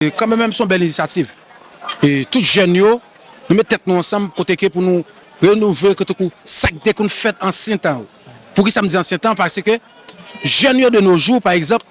E kanmen menm son bèl inisyativ. E tout jèn yo, nou met tèt nou ansanm kote ke pou nou renouvle ke tankou sa ki te konn fèt ansyen tan yo. Poukisa m di ansyen tan? Paske jèn yo de no jou pa egzanp,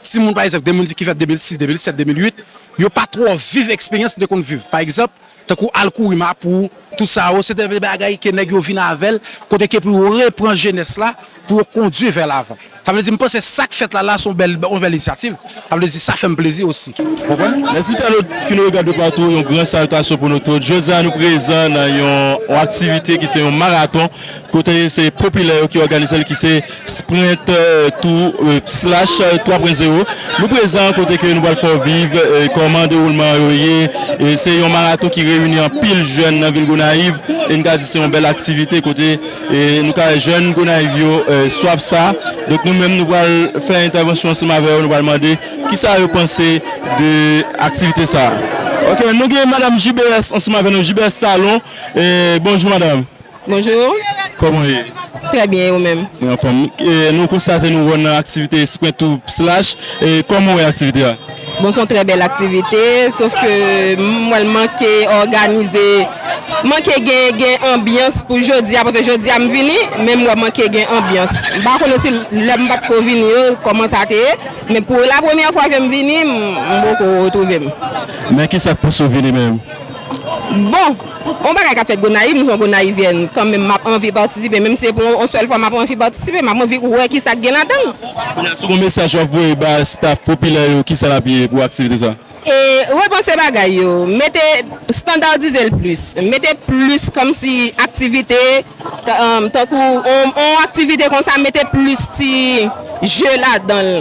timoun pa egzanp de moun ki fèt 2006, 2007, 2008, yo pa twò viv eksperyans nou te konn viv. Pa egzanp. Tankou al kouri Mapou, tout sa yo, se te de bagay ke nèg yo vin avè l, kote ke pou yo repran jenès la, pou yo kondui vè lavan. Sa vle di m panse sa k fèt la la se yon bèl inisyativ, sa vle di sa fè m plezi osi. Ou konprann? Mes internautes ki nou regarde de partout, yon gran salutation pou nou tout. Jodi a nou prezan nan yon aktivite ki se yon marathon. Kote se popilè yo ki òganize l ki se Sprint Tour Slash 3 pwen zewo. Nou prezan kote ke nou pral fè w viv kòman dewoulman an yo ye. Se yon maraton ki reyini anpil jèn nan vil Gonayiv e n ka di se yon bèl aktivite kote nou ka wè jèn Gonayiv yo swaf sa. Donk nou menm nou pral fè entèvansyon ansanm avè yo, nou pral mande ki sa yo panse de aktivite sa. Ok nou gen madam JBS ansanm avè nou, JBS Salon. Bonjou madam. Bonjour. Koman ou ye? Trè byen, e ou menm? Mwen anfòm. Nou konstate nou wè w nan aktivite Sprint ou Slash. Kòman ou wè aktivite a? Bon, s on trè bèl aktivite, sof ke m wè l manke òganize, manke gen anbyans pou jodi a, paske jodi a m vini, men m wè manke gen anbyans. M pa konnen si lè m pa t ko vini yo, kòman sa te ye, men pou la premyè fwa ke m vini, m poko retwouve m. Men kisa k pouse w vini menm? Bon! On bagay kap fèt gonayiv m son gonayivyèn kan menm map anvi patisipe menm si se pou on sèl fwa map anvi patisipe map anvi wè kisa gen ladann. Kounya si gon mesaj wap voye ba staff popilè yo kisa lap ye pou aktivite sa? Repanse bagay yo, mete standardize l plis, mete plis kòmsi aktivite tankou on aktivite konsa mete plis ti jeu ladan l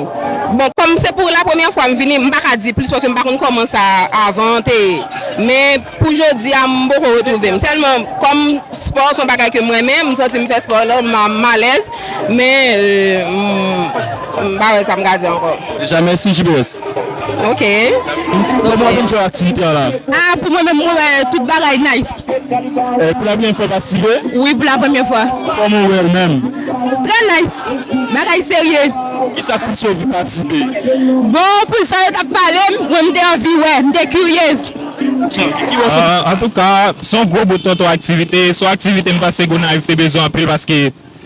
bon kòm se pou la premyè fwa m vini m paka di plis paske m pa konn kòman sa avan an te ye men Pou jodi a m poko retwouve m. Sèlman kòm spò son bagay ke m renmen, m santi m fè spò lè m alèz men m pa wè sa m ka di ankò. Deja mèsi JBS. Ok. Kòman w vin jwenn aktivite an la? A pou mwen menm mwen wè tout bagay nice. Pou la premyè fwa w patisipe? Wi pou la premyè fwa. Kòman w wè l menm? Trè nice. Bagay serye. Kisa k pouse w vin patisipe? Bon pou jan yo t ap pale m, mwen m te anvi wè, m te kiryez. Antouka, se yon gwo bout tonton aktivite, se yon aktivite m panse Gonayiv te bezwen anpil paske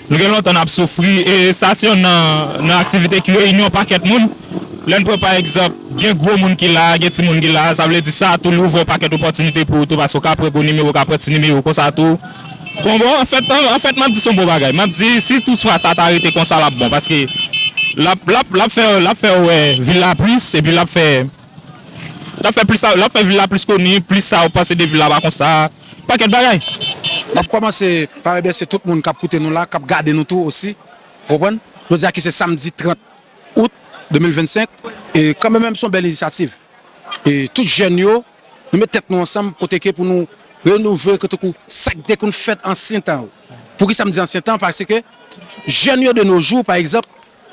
nou gen lontan n ap soufri e sa se yon nan aktivite ki reyini yon pakèt moun. Lè n pran pa egzanp, gen gwo moun ki la a, gen timoun ki la a, sa vle di sa tou li ouvè yon pakèt opòtinite pou ou tou paske ou ka pran gwo nimewo, ou ka pran ti nimewo konsa tou. Bon, bon, anfèt, anfèt m ap di se yon bon bagay. M ap di si tout fwa sa ta rete konsa l ap bon paske l ap, l ap, l ap fè, l ap fè wè vil la plis epi l ap fè. Lap fè plis sa lap fè vil la plis koni plis sa ou panse de vil la pa konsa pakèt bagay. Map kòmanse pa remèsye tout moun kap koute nou la kap gade nou tou osi ou konprann jodi a ki se samdi 30 out 2025 e kanmè menm son bèl inisyativ e tout jèn yo nou met tèt nou ansanm kote ke pou nou renouvle kote kou sak te konn fèt ansyen tan yo poukisa m di ansyen tan paske jèn yo de no jou pa egzanp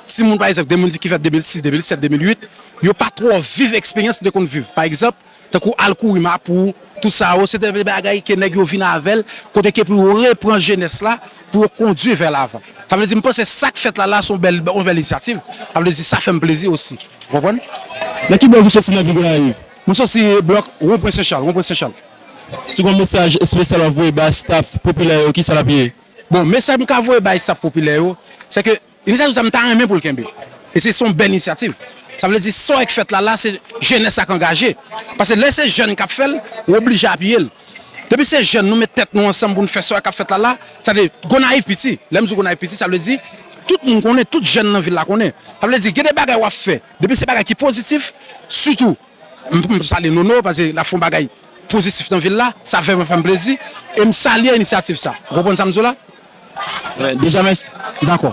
Timoun pa egzanp, gen moun ki fèt 2006, 2007, 2008, yo pa twò viv eksperyans nou te konn viv. Pa egzanp, tankou al kouri Mapou, tout sa yo, se te de bagay ke nèg yo vin avè l, kote ke pou yo repran jenès la, pou yo kondui vè lavan. Sa vle di m panse sa k fèt la la se yon bèl inisyativ, sa vle di sa fè m plezi osi. Ou konprann? Nan ki blòk ou soti nan vil Gonayiv? Mwen soti blòk Wonpwen Sen Chal, Wonpwen Sen Chal. Si gon mesaj espesyal w ap voye bay staf popilè yo, kisa l ap ye? Bon, mesaj m ka voye bay staf popilè yo, se ke Inisyativ sa m ta renmen pou l kenbe e se son bèl inisyativ. Sa vle di sa w k fèt la la se jenès la k angaje. Pase lè se jèn k ap fè l, w oblije apiye l. Depi se jèn nou met tèt nou ansanm pou n fè sa w k ap fèt la la, sa vle di Gonayiv piti. Lè m di Gonayiv piti sa vle di tout moun konnen, tout jèn nan vil la konnen. Sa vle di gen de bagay w ap fè depi se bagay ki pozitif sitou m m salye Nono pase l ap fè yon bagay pozitif nan vil la sa vèman fè m plezi e m salye inisyativ sa. Ou konprann sa m di w la? Deja mèsi. Dakò.